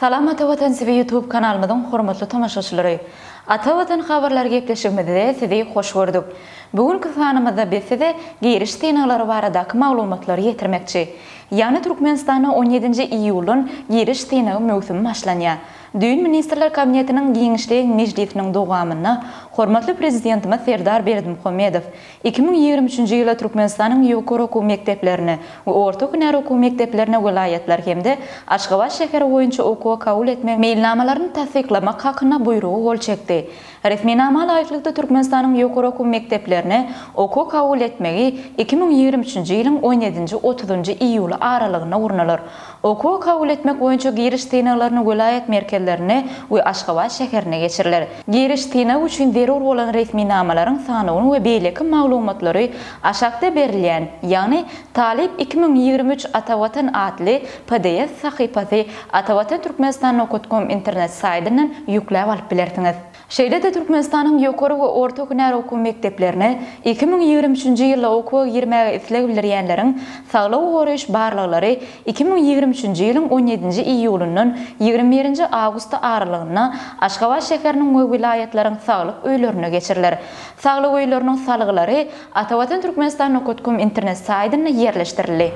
Salam Ata Watan TV YouTube kanalymyzyň hormatly tomaşaçylary! Ata Watan habarlary gepleşigimizde sizi hoş gördük. Bu günki sanymyzda biz size giriş synaglary baradaky maglumatlary ýetirmekçi. Ýagny Türkmenistanda on ýedinji iýuldan giriş synagy möwsümi başlanýar. Düýn Ministrler Kabinetiniň giňişleýin mejlisiniň dowamynda hormatly Prezidentimiz Serdar Berdimuhamedow Iki müň ýigrimi üçünji ýyla Türkmenistanyň ýokary okuw mekdeplerine we orta hünär okuw mekdeplerine welaýatlar hem-de Aşgabat şäheri boýunça okuwa kabul etme meýilnamalaryny tassyklamak hakynda Buýrugy gol çekdi. Resminama laýyklykda, Türkmenistanyň ýokary okuw mekdeplerine okuwa kabul etmegi iki müň ýigrimi üçünji ýylyň on ýedinji, otuzynjy iýuly aralygynda gurnalar. Okuwa kabul etmek boýunça giriş synaglaryny welaýat merkezlerinde we Aşgabat şäherinde geçiriler. Giriş synagy üçin zerur bolan resminamalaryň sanawyny we beýleki maglumatlary aşakda berilýän, ýagny Talyp iki müň ýigrimi üç Atavatan atly pdf sahypasy Atavatan Türkmenistan nokat kom internet saýdyndan ýükläp alyp bilersiňiz. Şeýle-de Türkmenistanyň ýokary we orta hünär okuw mekdeplerine iki müň ýigrimi üçünji ýylda okuwa girmäge isleg bildirýänleriň saglygy goraýyş barlaglary iki müň ýigrimi üçünji ýylyň on ýedinji iýulyndan ýigrimi birinji awgusty aralygynda Aşgabat şäheriniň we welaýatlaryň saglyk öýlerinde geçiriler. Saglyk öýleriniň salgylary Atavatan Türkmenistan Nokotkom internet saýtynda ýerleşdirildi.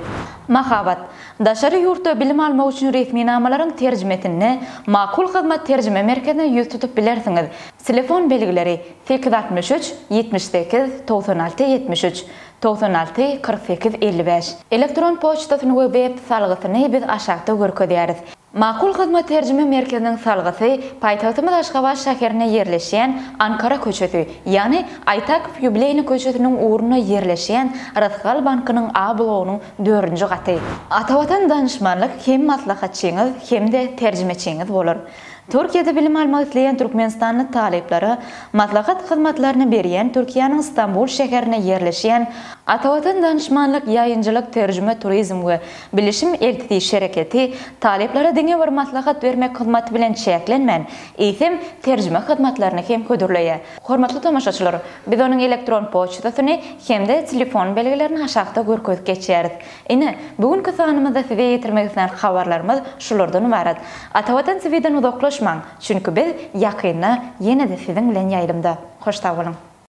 Mahabat. Daşary ýurtda bilim almak üçin resminamalaryň terjimesinde Makul Hyzmat terjime merkezine ýüz tutup bilersiňiz, telefon belgileri, sekiz altmyş üç, ýetmiş sekiz, togsan alty, ýetmiş üç, togsan alty, kyrk sekiz, elli bäş. Elektron poçtasyny we web salgysyny biz aşakda görkezýäris. Makul Hyzmat terjime merkeziniň salgysy paýtagtymyz Aşgabat şäherinde ýerleşýän Ankara köçesi, ýagny Aýtakow ýubileýny köçesiniň ugrunda ýerleşýän Rysgal bankynyň A blogynyň dördünji gaty. Atavatan Danyşmanlyk hem maslahatçyňyz hem-de terjimeçiňiz bolar. Türkiýede bilim almak isleýän türkmenistanly talyplara maslahat hyzmatlaryny berýän Türkiýäniň Stambul şäherinde ýerleşýän Atavatan Danyşmanlyk ýaýynjylyk terjime turizm we Bilişim eltiji şereketi talyplara diňe bir maslahat bermek hyzmaty bilen çäklenmän, eýsem, terjime hyzmatlaryny hem hödürleýär. Hormatly tomaşaçylar, biz onuň elektron poçtasyny hem-de telefon belgilerini aşakda görkezip geçýäris. Ine, bu günki sanymyzda size ýetirmek islän habarlarymyz şulardan ybarat. Ata Watan TVden uzaklaşmaň, çünki biz ýakynda ýene-de siziň bilen ýaýlymda. Hoş sag boluň!